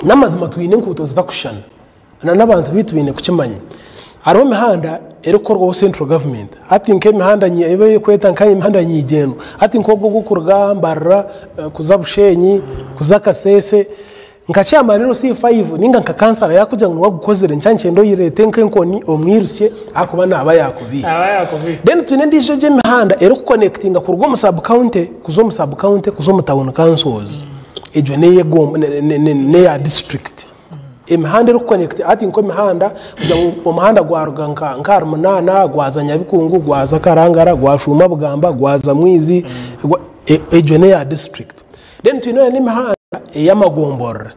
n'amazima twine enkuuto zitakushushana na n'abantu baitu baine kukimanya hariho emihanda erikukorwaho central government hati nk'emihanda nyi- ei barikweta nka emihanda nyigyendwa hati nk'ogwo ogw'okuruga mbarara eh, kuza busheenyi kuza kaseese nka chairman rero c5 ninga nka kansara yakugira ngu wagukozire nkya nikyenda oyireete nk'enkoni omwirusye akuba naaba yakubiire aba yakubiire then twine endiijo gy'emihanda erikukonekitinga kuruga omu sub county kuza omu sub county kuza omu town councils egyo neya district emihanda eri connect hati nka emihanda omuhanda gwaruga nka ahari munana gwaza nyabikungu gwaza karangara gwashuma bugamba gwaza mwizi egyo neya district then twine emihanda eya magomborora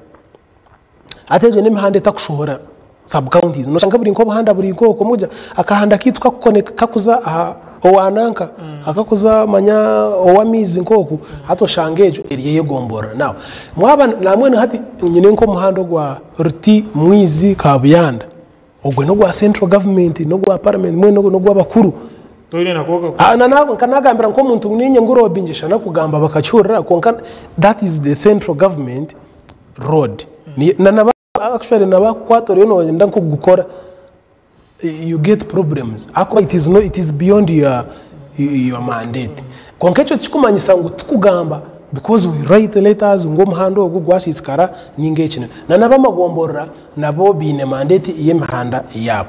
Hati egyo n'emihanda etakushumura sub counties noshanga buri nk'obuhanda buri nk'oko mukugira akahanda kaitu kakuconnect kakuza aha owa nanka akakuza manya ow'amaizi nk'oku hati oshanga egyo eri ey'egombora now mwaba na mbwenu hati nyine nk'omuhanda ogwa Ruti Mwizi Kabuyanda Ogwe nogwa central government nogwa parliament mbwenu ogwe nogwabakuru Toine nako okakora. Ah, na- na- nkanagambira nk'omuntu ngu ninye ngu road ngyeshana kugamba bakakihurira kwonka that is the central government road Ni- na- naba- actually nabakukwata oriyo noyenda nk'okugukora you get problems ahakuba it is no- it is beyond your your mandate Kwonka ekyo tikikumanyisa ngu tikugamba because we write letters ngu omuhanda ogu gwasiisikara ninga ekine. Nan'abamagomborora nabo baine mandate y'emihanda yaabo.